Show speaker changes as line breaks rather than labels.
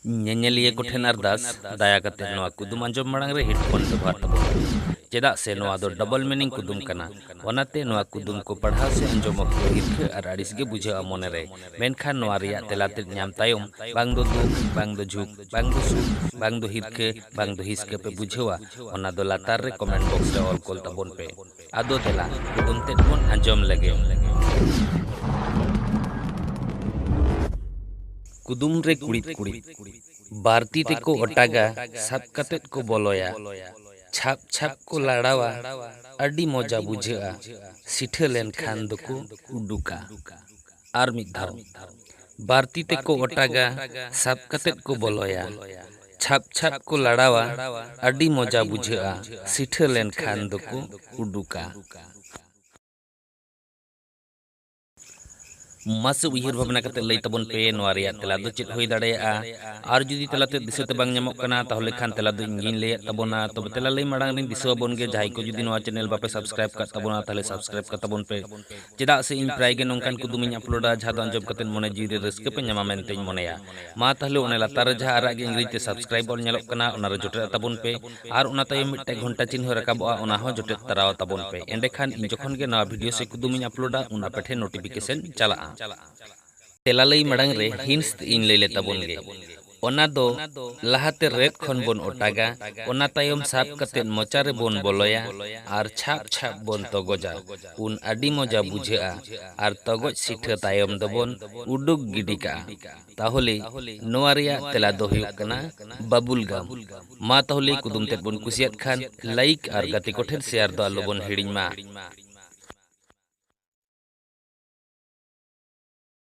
ᱧᱮᱧᱮᱞᱤᱭᱟᱹ ᱠᱚ ᱴᱷᱮᱱ ᱟᱨᱫᱟᱥ ᱫᱟᱭᱟ ᱠᱟᱛᱮ ᱱᱚᱣᱟ ᱠᱩᱫᱩᱢ ᱟᱸᱡᱚᱢ ᱢᱟᱲᱟᱝ ᱨᱮ ᱦᱮᱰᱯᱷᱳᱱ ᱵᱮᱵᱚᱦᱟᱨ ᱛᱟᱵᱚᱱ ᱯᱮ ᱪᱮᱫᱟᱜ ᱥᱮ ᱱᱚᱣᱟ ᱫᱚ ᱰᱚᱵᱚᱞ ᱢᱤᱱᱤᱝ ᱠᱩᱫᱩᱢ ᱠᱟᱱᱟ ᱚᱱᱟᱛᱮ ᱱᱚᱣᱟ ᱠᱩᱫᱩᱢ ᱠᱚ ᱯᱟᱲᱦᱟᱣ ᱥᱮ ᱟᱸᱡᱚᱢ ᱚᱠᱛᱚ ᱦᱤᱨᱠᱷᱟᱹ ᱟᱨ ᱟᱹᱲᱤᱥ ᱜᱮ ᱵᱩᱡᱷᱟᱹᱜᱼᱟ ᱢᱚᱱᱮ ᱨᱮ ᱢᱮᱱᱠᱷᱟᱱ ᱱᱚᱣᱟ ᱨᱮᱭᱟᱜ ᱛᱮᱞᱟ ᱛᱮᱫ ᱧᱟᱢ ᱛᱟᱭᱚᱢ ᱵᱟᱝ ᱫᱚ ᱫᱩᱠ ᱵᱟᱝ ᱫᱚ ᱡᱷᱩᱠ ᱵᱟᱝ ᱫᱚ ᱥᱩᱠ ᱵᱟᱝ ᱫᱚ ᱦᱤᱨᱠᱷᱟᱹ ᱵᱟᱝ ᱫᱚ ᱦᱤᱥᱠᱟᱹ ᱯᱮ ᱵᱩᱡᱷᱟᱹᱣᱟ ᱚᱱᱟ ᱫᱚ ᱞᱟᱛᱟᱨ ᱨᱮ ᱠᱚᱢᱮᱱᱴ ᱵᱚᱠᱥ ᱨᱮ ᱚᱞ ᱠᱚᱞ ᱛᱟᱵᱚᱱ ᱯᱮ ᱟᱫᱚ ᱫᱮᱞᱟ ᱠᱩᱫᱩᱢ ᱛᱮᱫ ᱵᱚᱱ ᱟᱸᱡᱚᱢ ᱞᱮᱜᱮ᱾ ᱠᱩᱫᱩᱢ ᱨᱮ ᱠᱩᱲᱤᱫ ᱠᱩᱲᱤᱫ᱾ ᱵᱟᱨ ᱛᱤ ᱛᱮᱠᱚ ᱚᱴᱟᱜᱟ ᱥᱟᱵ ᱠᱟᱛᱮ ᱠᱚ ᱵᱚᱞᱚᱭᱟ᱾ ᱪᱷᱟᱯ ᱪᱷᱟᱯ ᱠᱚ ᱞᱟᱲᱟᱣᱟ ᱟᱹᱰᱤ ᱢᱚᱡᱟ ᱵᱩᱡᱷᱟᱹᱜᱼᱟ᱾ ᱥᱤᱴᱷᱟᱹ ᱞᱮᱱ ᱠᱷᱟᱱ ᱫᱚᱠᱚ ᱩᱰᱩᱠᱟ᱾ ᱟᱨ ᱢᱤᱫ ᱫᱷᱟᱣ᱾ ᱵᱟᱨ ᱛᱤ ᱛᱮᱠᱚ ᱚᱴᱟᱜᱟ, ᱥᱟᱵ ᱠᱟᱛᱮᱫ ᱠᱚ ᱵᱚᱞᱚᱭᱟ᱾ ᱪᱷᱟᱯ ᱪᱷᱟᱯ ᱠᱚ ᱞᱟᱲᱟᱣᱟ, ᱟᱹᱰᱤ ᱢᱚᱡᱟ ᱵᱩᱡᱷᱟᱹᱜᱼᱟ, ᱥᱤᱴᱷᱟᱹ ᱞᱮᱱ ᱠᱷᱟᱱ ᱫᱚᱠᱚ ᱩᱰᱩᱠᱟ᱾ ᱢᱟᱥᱮ ᱩᱭᱦᱟᱹᱨ ᱵᱷᱟᱵᱽᱱᱟ ᱠᱟᱛᱮᱫ ᱞᱟᱹᱭ ᱛᱟᱵᱚᱱ ᱯᱮ ᱱᱚᱣᱟ ᱨᱮᱭᱟᱜ ᱛᱮᱞᱟ ᱫᱚ ᱪᱮᱫ ᱦᱩᱭ ᱫᱟᱲᱮᱭᱟᱜᱼᱟ? ᱟᱨ ᱡᱩᱫᱤ ᱛᱮᱞᱟ ᱛᱮᱫ ᱫᱤᱥᱟᱹ ᱛᱮ ᱵᱟᱝ ᱧᱟᱢᱚᱜ ᱠᱟᱱᱟ ᱛᱟᱦᱚᱞᱮ ᱠᱷᱟᱱ ᱛᱮᱞᱟ ᱫᱚ ᱤᱧ ᱜᱮᱧ ᱞᱟᱹᱭᱟᱫ ᱛᱟᱵᱚᱱᱟ᱾ ᱛᱚᱵᱮ ᱛᱮᱞᱟ ᱞᱟᱹᱭ ᱢᱟᱲᱟᱝ ᱨᱮᱧ ᱫᱤᱥᱟᱹ ᱟᱵᱚᱱ ᱜᱮ ᱡᱟᱦᱟᱸᱭ ᱠᱚ ᱡᱩᱫᱤ ᱱᱚᱣᱟ ᱪᱮᱱᱮᱞ ᱵᱟᱯᱮ ᱥᱟᱵᱽᱥᱠᱨᱟᱭᱤᱵᱽ ᱟᱠᱟᱫ ᱛᱟᱵᱚᱱᱟ ᱛᱟᱦᱚᱞᱮ ᱥᱟᱵᱽᱥᱠᱨᱟᱭᱤᱵᱽ ᱠᱟᱛᱟᱵᱚᱱ ᱯᱮ᱾ ᱪᱮᱫᱟᱜ ᱥᱮ ᱤᱧ ᱯᱨᱟᱭ ᱜᱮ ᱱᱚᱝᱠᱟᱱ ᱠᱩᱫᱩᱢ ᱤᱧ ᱟᱯᱞᱳᱰᱟ ᱡᱟᱦᱟᱸ ᱫᱚ ᱟᱸᱡᱚᱢ ᱠᱟᱛᱮ ᱢᱚᱱᱮ ᱡᱤᱣᱤ ᱨᱮ ᱨᱟᱹᱥᱠᱟᱹ ᱯᱮ ᱧᱟᱢᱟ ᱢᱮᱱᱛᱮᱧ ᱢᱚᱱᱮᱭᱟ᱾ ᱢᱟ ᱛᱟᱦᱞᱮ ᱚᱱᱮ ᱞᱟᱛᱟᱨ ᱨᱮ ᱡᱟᱦᱟᱸ ᱟᱨᱟᱜ ᱜᱮ ᱤᱝᱨᱮᱡᱤ ᱛᱮ ᱥᱟᱵᱥᱠᱨᱟᱭᱤᱵᱽ ᱚᱞ ᱧᱮᱞᱚᱜ ᱠᱟᱱᱟ ᱚᱱᱟ ᱨᱮ ᱡᱚᱴᱮᱫ ᱟᱛᱟᱵᱚᱱ ᱯᱮ ᱟᱨ ᱚᱱᱟ ᱛᱟᱭᱚᱢ ᱢᱤᱫᱴᱟᱝ ᱜᱷᱚᱱᱴᱟ ᱪᱤᱱᱦᱟᱹ ᱨᱟᱠᱟᱵᱚᱜᱼᱟ ᱚᱱᱟ ᱦᱚᱸ ᱡᱚᱴᱮᱫ ᱛᱟᱨᱟᱣ ᱟᱛᱟᱵᱚᱱ ᱯᱮ ᱮᱸᱰᱮ ᱠᱷᱟᱱ ᱤᱧ ᱡᱚᱠᱷᱚᱱ ᱜᱮ ᱱᱟᱣᱟ ᱵᱷᱤᱰᱤᱭᱳ ᱥᱮ ᱠᱩᱫᱩᱢ ᱤᱧ ᱟᱯᱞᱳᱰᱟ ᱩᱱ ᱟᱯᱮ ᱴᱷᱮᱱ ᱱᱳᱴᱤᱯᱷᱤᱠᱮᱥᱚᱱ ᱪᱟᱞᱟᱜᱼᱟ᱾ ᱛᱮᱞᱟ ᱞᱟᱹᱭ ᱢᱟᱲᱟᱝ ᱨᱮ ᱦᱤᱱᱴᱥ ᱤᱧ ᱞᱟᱹᱭ ᱞᱮ ᱛᱟᱵᱚᱱ ᱜᱮ᱾ ᱚᱱᱟ ᱫᱚ ᱞᱟᱦᱟ ᱛᱮ ᱨᱮᱫ ᱠᱷᱚᱱ ᱵᱚᱱ ᱚᱴᱟᱜᱟ, ᱚᱱᱟ ᱛᱟᱭᱚᱢ ᱥᱟᱵ ᱠᱟᱛᱮ ᱢᱚᱪᱟ ᱨᱮ ᱵᱚᱱ ᱵᱚᱞᱚᱭᱟ ᱟᱨ ᱪᱷᱟᱯ ᱪᱷᱟᱯ ᱵᱚᱱ ᱛᱚᱜᱚᱡᱟ, ᱩᱱ ᱟᱹᱰᱤ ᱢᱚᱡᱟ ᱵᱩᱡᱷᱟᱹᱜᱼᱟ ᱟᱨ ᱛᱚᱜᱚᱡ ᱥᱤᱴᱷᱟᱹ ᱛᱟᱭᱚᱢ ᱫᱚ ᱵᱚᱱ ᱩᱰᱩᱠ ᱜᱤᱰᱤ ᱠᱟᱜᱼᱟ᱾ ᱛᱟᱦᱚᱞᱮ ᱱᱚᱣᱟ ᱨᱮᱭᱟᱜ ᱛᱮᱞᱟ ᱫᱚ ᱦᱩᱭᱩᱜ ᱠᱟᱱᱟ ᱵᱟᱵᱩᱞ ᱜᱟᱢ᱾ ᱢᱟ ᱛᱟᱦᱚᱞᱮ ᱠᱩᱫᱩᱢ ᱛᱮᱫ ᱵᱚᱱ ᱠᱩᱥᱤᱭᱟᱫ ᱠᱷᱟᱱ ᱞᱟᱭᱤᱠ ᱟᱨ ᱜᱟᱛᱮ ᱠᱚ ᱴᱷᱮᱱ ᱥᱮᱭᱟᱨ ᱫᱚ ᱟᱞᱚ ᱵᱚᱱ ᱦᱤᱲᱤᱧ ᱢᱟ᱾